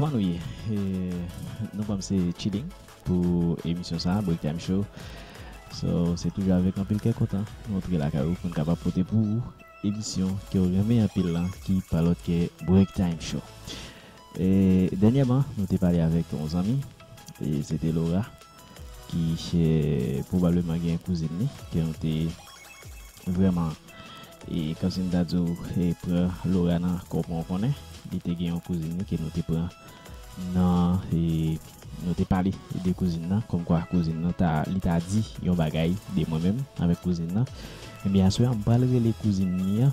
Kòman nou ye? Nou kwè m se chilling pou emisyon sa a, Break Time Show. So, se toujou avèk anpil kè kontan nou antre lakay ou pou n kapab pote pou ou emisyon ke w renmen anpil lan ki pa lòt ke Break Time Show. Dènyèman, nou te pale avèk yon zanmi, e se te Laura, ki se pwobableman gen kouzin li, ke nou te vrèman, e kòmsi m ta di w, pran Laura nan kò pou yon konnen. Li te gen yon kouzin li ke nou te pran nan, e nou te pale de kouzin nan, kòmkwa kouzin nan ta, li ta di yon bagay de mwen menm avèk kouzin nan. Ebyen aswè a, m pral rele kouzin li an,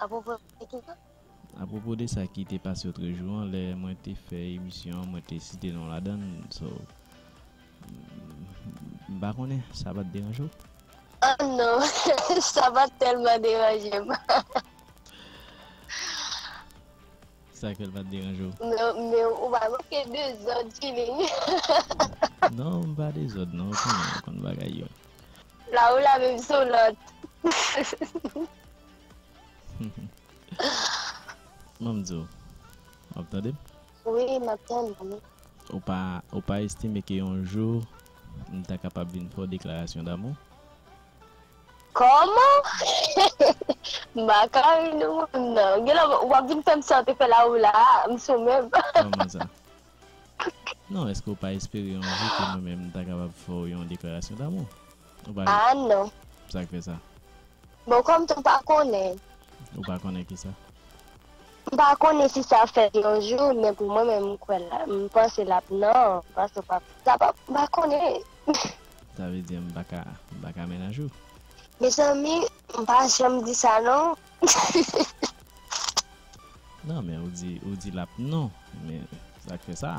Apwopo de ki sa? Apwopo de sa ki te pase otrejou an lè mwen te fè emisyon an mwen te site non w ladan l so m pa konnen sa pa t deranje w? Oh non, sa pa t tèlman deranje m. Sa k fè l pa t deranje w? Non, men ou pa manke dezòd chilling. Non, m pa dezòd non, ou konnen m konn bagay yo. La ou la menm se w lòt. M'en m di w, w'ap tande m? Wi, m'ap tande w. Ou pa, ou pa estime ke yon jou m ta kapab vin fè w deklarasyon damou? Kòman? M pa ka ri nou menm nan. Gen lè w'ap vin fè m sa w te fè la ou la a, m sou menm. Kòman sa? Non, èske w pa espere yon jou ke mwen menm m ta kapab fè w yon deklarasyon damou? Ou pa Ah non. Sa k fè sa? Bon kòm tou m pa konnen. Ou pa konnen ki sa? M pa konnen si sa fèt yon jou men pou mwen menm m kwè la m panse l ap nan paske w pap sa pap m pa konnen. Sa vle di m pa ka m pa ka menaj ou? Mezanmi m pa janm di sa non. Nan men ou di ou di l ap nan men sa k fè sa?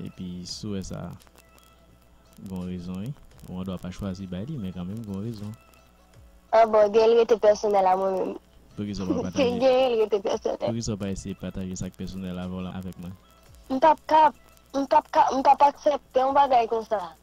Epi souwè sa gon rezon wi. Ou andwa pa chwazi bay li men kanmenm gon rezon. Ah bon gen l rete pèsonèl a mwen menm. Poukisa w pa pataje. Gen l rete pèsonèl. Poukisa w pa eseye pataje sa k pèsonèl avè w la avèk mwen. M pap kap, m pap ka, m pap aksèpte yon bagay konsa.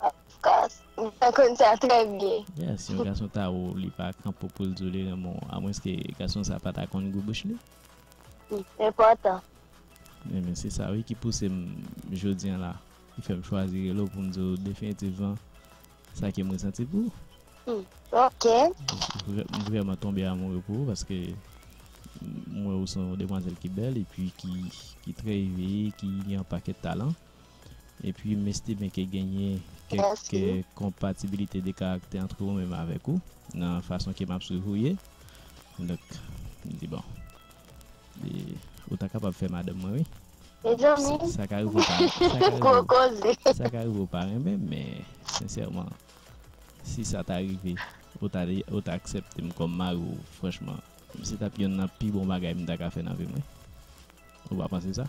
Of course. Mwen pa konn sa trè byen. Yeah, si yon gason ta wè w li pa kanpe pou l di w li renmen w, amwenske gason sa pa ta konn gou bouch li. Li enpòtan. Ebyen se sa wi ki pouse m jodi an la, ki fè m chwazi rele w pou m di w definitivman sa ke m resanti pou ou. Hmm, ok. M vrèman tonbe amoure pou ou paske m wè ou se yon demwazèl ki bèl epi ki trè eveye, ki gen yon pakèt talan. Epi m estime ke genyen kèk konpatibilite de karaktè antre ou menm avèk ou nan fason ke m ap swiv ou ye. Donk, m di bon, ou ta kapab fè madanm mwen wi. Mezanmi! Sa ka rive ou pa renmen. Gwo koze! Sa ka rive ou pa renmen, men sensèman, si sa ta rive, ou ta aksepte m kòm mari ou, franchman, se t ap yonn nan pi bon bagay m ta ka fè nan vi m wi. Ou pa panse sa?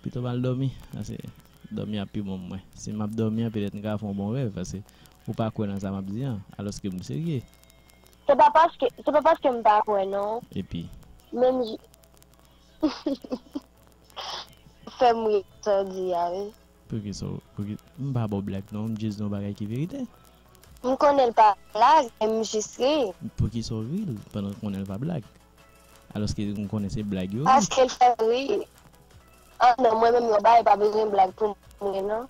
Pito m al dòmi, paske dòmi ap pi bon pou mwen. Si m ap dòmi an, petèt m ka fè yon bon rèv, paske ou pa kwè nan sa m ap di an, alòske m serye. Se pa paske, se pa paske m pa kwè non. Epi? Menm jan, fè m ri sa w di a wi. Poukisa w, pouki, m pa ba w blag non, m jis di w yon bagay ki verite. M konnen l pa blag, men m jis ri. Poukisa w ri l, pandan w konnen l pa blag? Aloske m konnen se blag yo. Paske l fè m rii. Ah non mwen menm yon baay pa bezwen blag pou m ri non.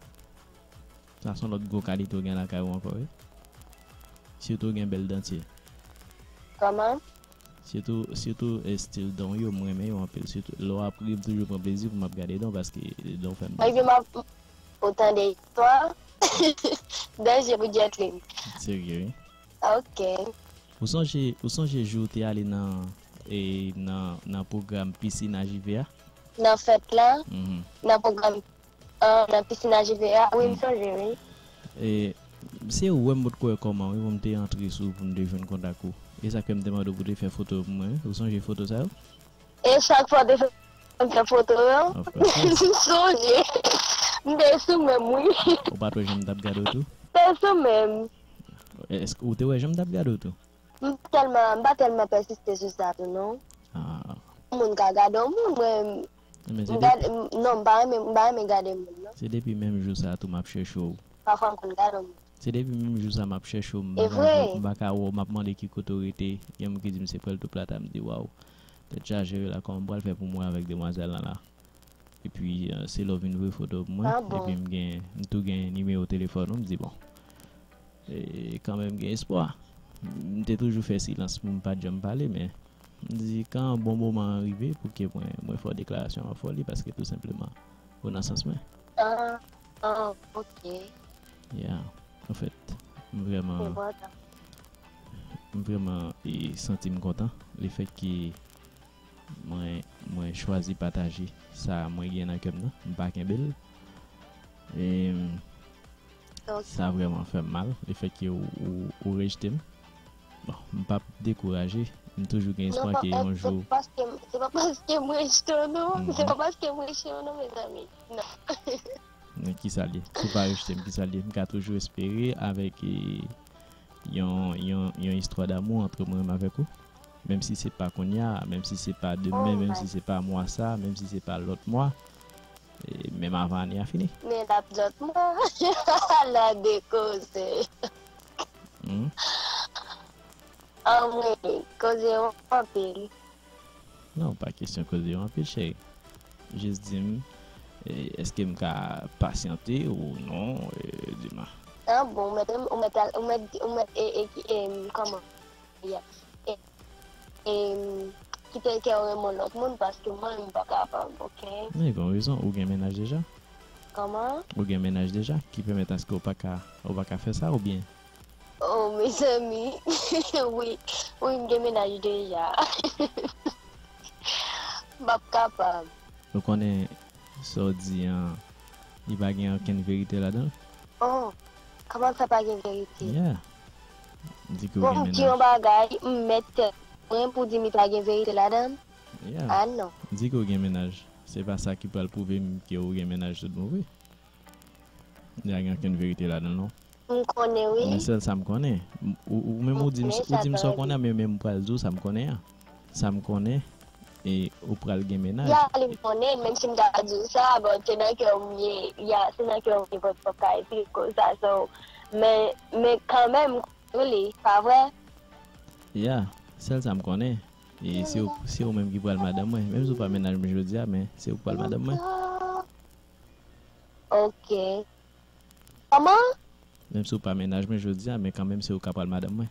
Sa son lòt gwo kalite w gen lakay ou ankò wi. Sitou w gen bèl dantye. Kòman? Sitou sitou estil dan w yo m renmen yo anpil sitou lè w ap ri m toujou pran plezi pou m ap gade dan w paske dan w fè m plezi. Ou tande istwa? Danje pou Jetlin. Serye wi. Ok. Ou sonje ou sonje jou ou te ale nan e nan nan pwogram piscine a JV a? Nan fèt la? Nan pwogram an nan piscine a JV a? Wi m sonje wi. E se ou wè m potko wè kòman wi pou m te antre sou ou pou m te jwenn kontak ou. E sa k fè m te mande w pou te fè foto yo pou mwen wi. Ou sonje foto sa yo? E chak fwa w te fè m fè foto yo? Of course. M sonje. M te sou menm wi. Ou pa t wè jan m t ap gade w tou? Te sou menm. Eske ou te wè janm tap gade w tou. M telman, m pa telman pèsiste sou sa tou non. Yon moun ka gade yon moun mwen m gade non m pa renmen m pa renmen gade moun non. Se depi menm jou sa tou map chèche w. Pafwa m konn gade yon moun. Se depi menm jou sa map chèche w m pa ka wè w m pa ka wè w map mande ki kote w rete gen moun ki di m se Puerto Plata m di waw tèt chaje wi la kòman m pral fè pou m wè avèk demwazèl lan la. Epi se lè w vin voye foto pou mwen epi m gen m tou gen nimewo telefòn ou m di bon kanmenm gen espwa. M te toujou fè silans pou m pa t janm pale men m di kan bon moman an rive pou ke mwen mwen fè w deklarasyon an fè w li paske tou senpleman ou nan sans mwen. Ahh ok. Ya anfèt m vrèman m vrèman santi m kontan lefètke Mwen mwen chwazi pataje sa mwen gen nan kèm nan mpa kenbel em sa vrèman fèm mal le fèt ke ou rejtem bon mpap dekouraje mtoujou gen espwa ke yon jou non paske se pa se pa paskem rejtew non se pa paskem rejtew non mezanmi nan. Men kisa l ye si w pa rejte m kisa l ye m ka toujou espere avèk yon yon yon istwa damou antre mwen menm avèk ou Menm si se pa kounya, menm si se pa demen, menm si se pa mwa sa, menm si se pa lòt mwa, menm avan ane a fini. Men lap lòt mwa, ala de koze. Anmweyy, koze yo anpil. Non, pa kesyon koze yo anpil cheri. Jis di m, eske m ka pasyante ou non Dima? An bon, ou mèt, ou mèt, ou mèt, ou mèt, kòman? Men gen yon rezon ou gen mennaj deja? Ou gen mennaj deja ki pèmèt aske ou pa ka fè sa oubyen? Ou konnen sa w di an li pa gen ankenn verite ladan l? Yeah! Di ke w gen mennaj. Di yon bagay, m mèt tèt mwen pou di Mitra gen verite ladann? Ah non. Di ke w gen mennaj, se pa sa ki pral pwouve m ke w gen mennaj tout bon vre. Li pa gen okenn verite ladan l non. M konnen wi. Mwen sèl sa m konnen. Ou menm ou di m sa w konnen men men m pral di w sa m konnen an. Sa m konnen e ou pral gen mennaj. Ya li m konnen menm si m ta di w sa bon se nan kè w m ye ya se nan kè w m ye bon fòk ta esplike w sa so men men kanmenm m konnen li pa vre. Ya sèl sa m konnen e se w se w menm ki pral madanm mwen menm si w pa mennaj m jodi a men se ou k pral madanm mwen. Ok kòman? Menm si w pa mennaj mwen jodi a men kanmenm se ou k apral madanm mwen.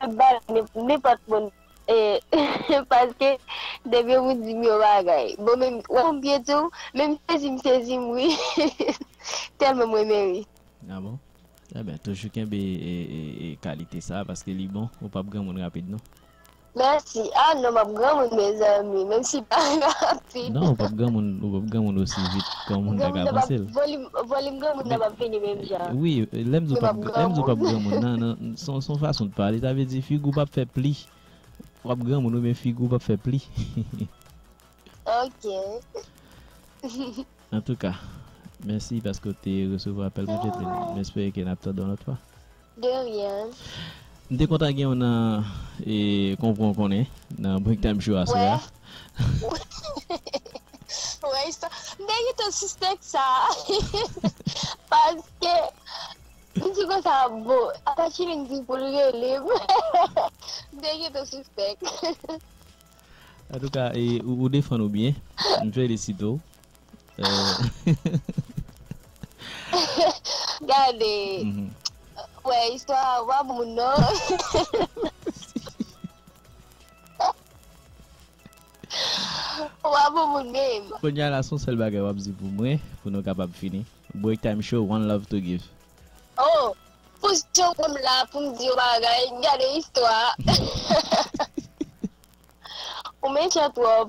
Map bay nenpòt moun ee paske depi moun dim yon bagay bon men wè m byen diw men m sezi m sezi m wi telman m renmen ri. Ah bon enben toujou kenbe kalite sa paske li bon ou pap granmoun rapid non. Merci ah non map granmoun mezanmi menm si pa rapid. Ti. Non ou pap granmoun ou pap granmoun osi vit granmoun ta ka panse l. Volim granmoun nan pap vini menm jan. Wi lèm di w pap granmoun nan son fason de pale sa vle di figi w pap fè pli wap granmoun wi men figi w pap fè pli. Ok. Antouka mèsi paske w te resevwa apèl mwen Jetline m espere ke nap tande yon lòt fwa. De rien. M te kontan gen yon nan e konpran konnen nan break time show a sè a. Wè istwa m te gentan sispèk sa paske m di konsa bon apa chilin di pou l rele m m te gentan sispèk. Antouka ou defann ou byen m felisite w. Gade Wè istwa a pa pou moun non Ou pa pou moun menm Kounya la son sèl bagay wap di pou mwen pou nou kapab fini Breaktime show one love to give Oh pou jan w wè m la pou m di w bagay gade istwa a Ou mechan twòp.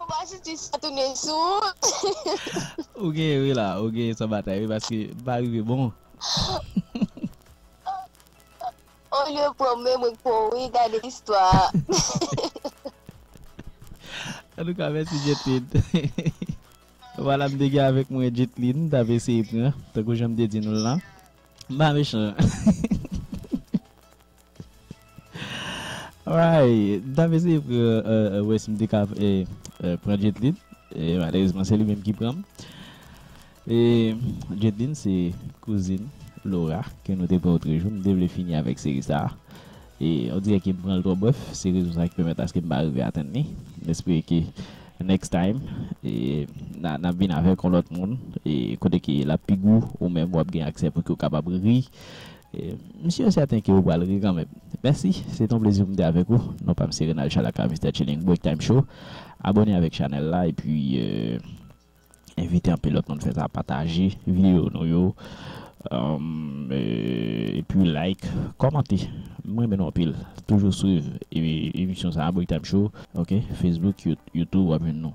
Ou pa santi sa tounen sou ou? Ou genyen wi la, ou genyen san batay wi paske m pa rive bon. Olye w pran menm repo w wi gade istwa. Antouka mèsi Jetline. Vwala m te gen avèk mwen Jetline m t ap eseye pran tankou jan m te di nou l lan. M pa mechan. Alright, m tap eseye pran wè si m te ka pran Jetlin, malerezman se li menm ki pran m. Jetlin se kouzin Laura ke nou te pran otrejou, m te vle fini avèk seri sa. E on dirè ke m pran l twò brèf, se rezon sa ki pèmèt aske m pa rive atenn li. M espere ke next time nap vin avèk on lòt moun kote ke lap pi gou ou menm wap gen aksè pou ke w kapab ri M sur et certain ke ou pral ri kanmenm. Merci, se te yon plezi pou m te avèk ou. Non pa m se Renald Charles aka Mister Chilling Break Time Show. Abone avèk chanèl la epi envite anpil lòt moun fè sa, pataje videyo nou yo epi like, kòmante. M renmen nou anpil. Toujou swiv emisyon sa a Break Time Show ok Facebook, YouTube wap jwenn nou.